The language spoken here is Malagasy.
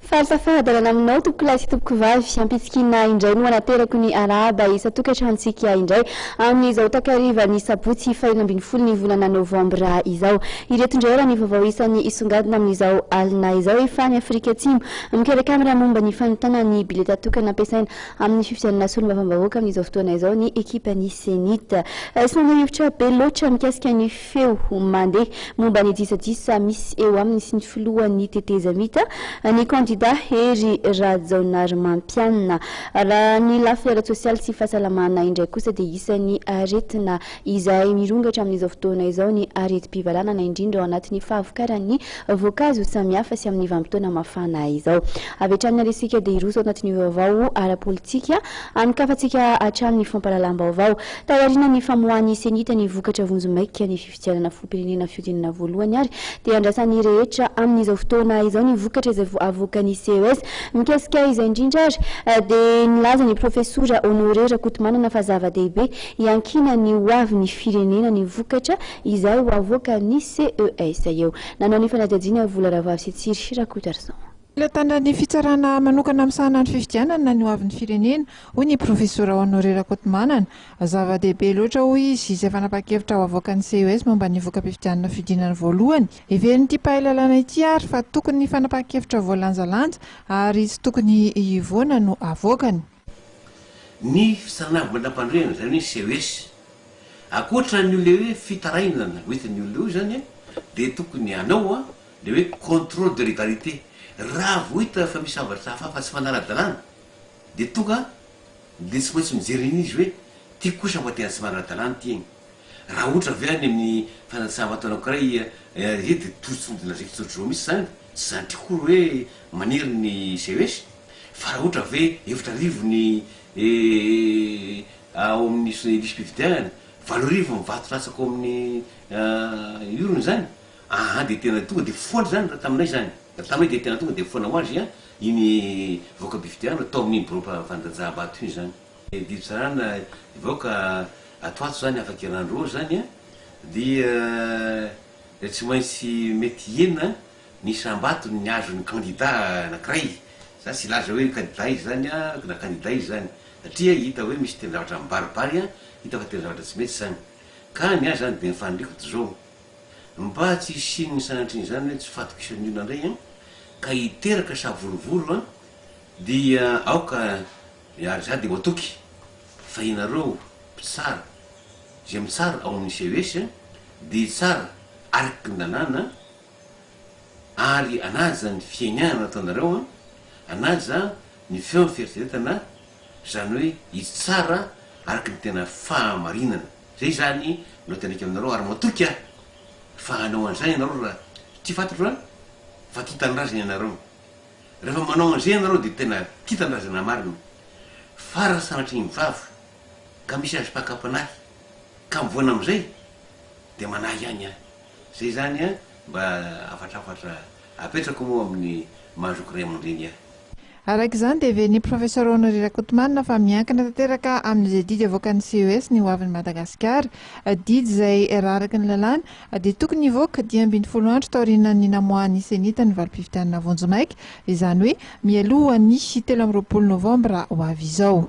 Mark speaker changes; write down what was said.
Speaker 1: Fahasafahadarana aminao tompoko lahy sy tompoko vavy ampitsikina indray no anaterako ny arahaba isan-tokantranontsika indray amin'izao takarivan'ny sabotsy fahenina ambin'ny folo ny volana novambra izao. Ireto indray ary ny vaovao isan'ny isongadina amin'izao alina izao. Efa any Afrika Atsimo mikarakara momba ny fanontana ny bileta tokana ampiasaina amin'ny fifidianana solombavambahoaka amin'izao fotoana izao ny ekipan'ny Cenit. Tsy manao hevitra be loatra mikasika ny feo mandeha momba ny disadisa misy eo aminy sy ny filohan'ny tetezamita, ny kandida Hery Rajaonarimampianina. Raha ny lafiny ara-tsosialy sy fahasalamana indray kosa dia isan'ny aretina izay mirongatra amin'izao fotoana izao ny aretim-pivalanana, indrindra ao anatin'ny fahavokaran'ny voankazo samihafa sy amin'ny vanim-potoana mafana izao. Avy hatrany narisika dia hiroso ao anatin'ny vaovao ara-politika amin-kafantsika hatrany ny fampahalalam-baovao. Taoriana ny famoahan'ny CENI-T ny vokatra vonjimaika ny fifidianana filoham-pirenena fihodinana voalohany ary dia andrasan'ny rehetra amin'izao fotoana izao ny vokatra izay avoakan'ny ces. Mikasika izay indrindra ary dia nilaza ny profesora Honoré Rakotomanana fa zava-dehibe Hiankina ny ho avin'ny firenena ny vokatra izay ho avoakan'ny CES eo. Nanao ny fanadihadiana Vola Rahavavy sy Tsiry Rakotarison. Fitantanana ny
Speaker 2: fitsarana manokana misahana ny fifidianana ny ho avin'ny firenena, hoy ny profesora Honoré Rakotomanana. Zava-dehibe loatra, hoy izy, izay fanapahan-kevitra ho avoakan'ny CES momba ny voka-pifidianana fidianana voalohany. Heverin'ity mpahay lalàna ity ary fa tokony fanapahan-kevitra voalanjalanja ary tsy tokony hivoana no avoakany.
Speaker 3: Ny fisanavamanampandroiana, izany hoe CES, ankoatra an'io ilay hoe fitarainana ho hitan'ny olona eo izany an, dia tokony hanao an, ilay hoe contrôle de légalité. Raha vao hita fa misy zavatra hafahafa tsy manara-dalàna, dia tonga dia tsy maintsy mijery an'izy hoe ity kosa mba tena tsy manara-dalàna ity e! Raha ohatra ve any amin'ny fanatsaha-mataona anankiray ry dia tojo tsy midina zaiky tsotr'izao mihitsy izany? Tsy zandriko akory hoe maniry ny CES. Fa raha ohatra ve efatra arivo ny ao amin'ny lisi-pividianana, valo arivo ny vato latsaka ao amin'ny urne izany? Aa dia tena tonga dia foana izany raha taminay izany. Raha taminay dia tena tonga dia foana ho azy iny voka-pifidianana tao amin'iny biraom-pandanjahambato iny izany. Ny didy tsarana hivoaka ato ato zany afaka iran-dry roa zany a, dia dia tsy maintsy mety hihena ny isam-batony ny azon'ny kandida anankiray, za tsy hilaza hoe kandida iza zany a na kandida iza zany satria hita hoe misy tena zavatra mibaribary a, hita fa tena zavatra tsy mety zany, ka ny ahy zany dia ny faniriako dia zao, mba tsy hisian'ny sanatrian'izany hoe tsy fatokisany olona ndray a, ka hiteraka savorovoro a, dia aoka. Ry ary za dia ho atoky fa ianareo mpitsara izay mitsara ao amin'ny CES dia hitsara araky ny lalàna ary anaja ny fiaignana ataonareo an, anaja ny feo ny fieritreretana zany hoe hitsara araky ny tena fahamarinana. Zay zany no teneniko aminareo ary matoky aho fa hanao an'izany ianareo raha tia fatratra an, fa tia tanindrazana ianareo. Rehefa manao an'izay ianareo dia tena tia tanindrazana marina. Fara sanatria ny vava ka misy azo pakapanahy ka mivoana amin'izay dia manahy ihany an! Izay izany an! Mba hafatrafatra apetrako moa amin'ny maha zoky ray aman-dreny ahy. Araka izany
Speaker 2: dia heverin'ny Professor Honoré Rakotomanana fa miankina tanteraka amin'izay didy avoakan'ny CES ny hoavin'i Madagasikara. Didy izay raraky ny lalàna. Dia tokony hivoaka dimy ambin'ny folo andro taorianan'ny namoahan'ny Senita ny valim-pifidianana vonjimaika, izany hoe mialohan'ny telo amby roapolo novambra ho avy izao.